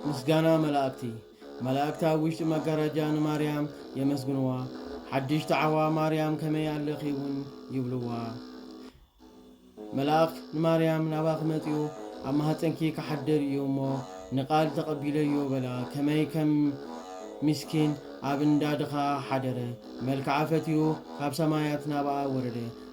ምስጋና መላእክቲ መላእክቲ ኣብ ውሽጢ መጋረጃ ንማርያም የመስግንዋ። ሓድሽ ተዓዋ ማርያም ከመይ ኣለኺ እውን ይብልዋ። መላእክ ንማርያም ናባኺ መጺኡ ኣብ ማህፀንኪ ክሓድር እዩ እሞ ንቃል ተቐቢለዮ በላ። ከመይ ከም ሚስኪን ኣብ እንዳ ድኻ ሓደረ። መልክዓ ፈትዩ ካብ ሰማያት ናብኣ ወረደ።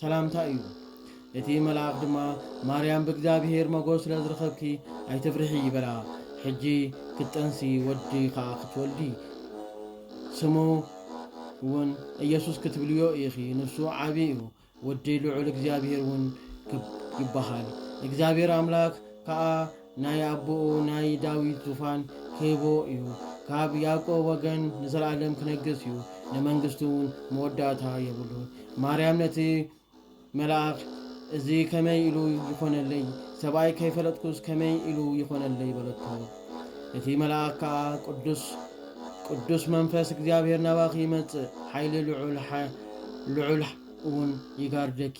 ሰላምታ እዩ። እቲ መልኣኽ ድማ፣ ማርያም ብእግዚኣብሄር መጎስ ስለ ዝረኸብኪ ኣይትፍርሒ በላ። ሕጂ ክትጠንሲ ወዲ ኸኣ ክትወልዲ፣ ስሙ ውን ኢየሱስ ክትብልዮ ኢኺ፣ ንሱ ዓቢ እዩ፣ ወዲ ልዑል እግዚኣብሄር ውን ይበሃል፣ እግዚኣብሄር ኣምላክ ከኣ፣ ናይ ኣቦኡ ናይ ዳዊት ዙፋን ኺህቦ እዩ፣ ካብ ያእቆብ ወገን ንዘለኣለም ኪነግስ እዩ፣ ንመንግስቱውን መወዳእታ የብሉን። ማርያም ነቲ መልኣኽ፣ እዚ ኸመይ ኢሉ ይዀነለይ? ሰብኣይ ከይፈለጥኩስ ከመይ ኢሉ ይዀነለይ? በለቶ። እቲ መልኣኽ ከኣ፣ ቅዱስ ቅዱስ መንፈስ እግዚኣብሄር ናባኺ ይመጽእ፣ ሓይሊ ልዑል ልዑልውን ይጋርደኪ፣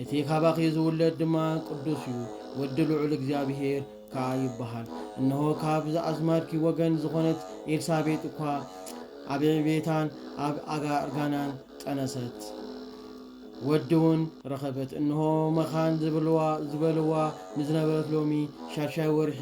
እቲ ካባኺ ዝውለድ ድማ ቅዱስ እዩ፣ ወዲ ልዑል እግዚኣብሄር ከኣ ይበሃል። እነሆ ካብ ኣዝማድኪ ወገን ዝኾነት ኤልሳቤጥ እኳ ኣብ ዕብየታን ኣብ ኣጋ እርጋናን ጠነሰት፣ ወዲውን ረኸበት። እነሆ መኻን ዝብልዋ ዝበልዋ ንዝነበረት ሎሚ ሻድሻይ ወርሒ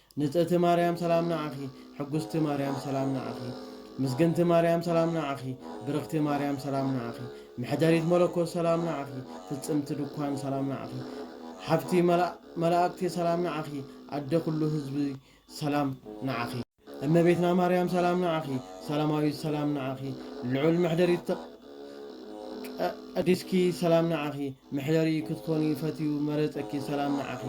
ንጽእቲ ማርያም ሰላም ንዓኺ ሕጉስቲ ማርያም ሰላም ንዓኺ ምስግንቲ ማርያም ሰላም ንዓኺ ብርኽቲ ማርያም ሰላም ንዓኺ መሕደሪት መለኮት ሰላም ንዓኺ ፍጽምቲ ድኳን ሰላም ንዓኺ ሓፍቲ መላእክቲ ሰላም ንዓኺ ኣደ ኩሉ ህዝቢ ሰላም ንዓኺ እመቤትና ማርያም ሰላም ንዓኺ ሰላማዊት ሰላም ንዓኺ ልዑል መሕደሪት ቀዲስኪ ሰላም ንዓኺ መሕደሪ ክትኮኒ ፈትዩ መረጸኪ ሰላም ንዓኺ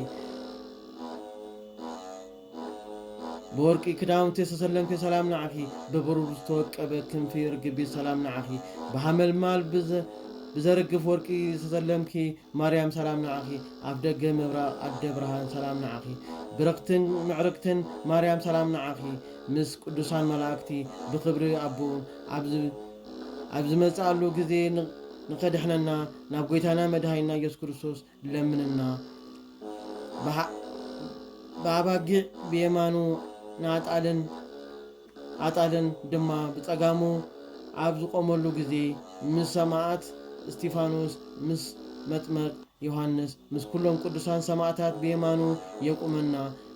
ብወርቂ ክዳውንቲ ዝተሰለምኪ ሰላም ንዓኺ ብብሩር ዝተወቀበ ክንፊ ርግቢት ሰላም ንዓኺ ብሃመልማል ብዘርግፍ ወርቂ ዝተሰለምኪ ማርያም ሰላም ንዓኺ ኣፍ ደገ ምብራቕ ኣደ ብርሃን ሰላም ንዓኺ ብርኽትን ምዕርግትን ማርያም ሰላም ንዓኺ ምስ ቅዱሳን መላእክቲ ብክብሪ ኣቦኡ ኣብዚ ኣብ ዝመጽኣሉ ግዜ ንከድሕነና ናብ ጎይታና መድኃኒና ኢየሱስ ክርስቶስ ለምንና ብኣባጊዕ ብየማኑ ንኣጣልን ኣጣልን ድማ ብጸጋሙ ኣብ ዝቆመሉ ግዜ ምስ ሰማዕት እስጢፋኖስ ምስ መጥመቅ ዮሐንስ ምስ ኩሎም ቅዱሳን ሰማዕታት ብየማኑ የቁመና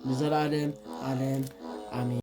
ንዘለዓለም ዓለም ኣሜን።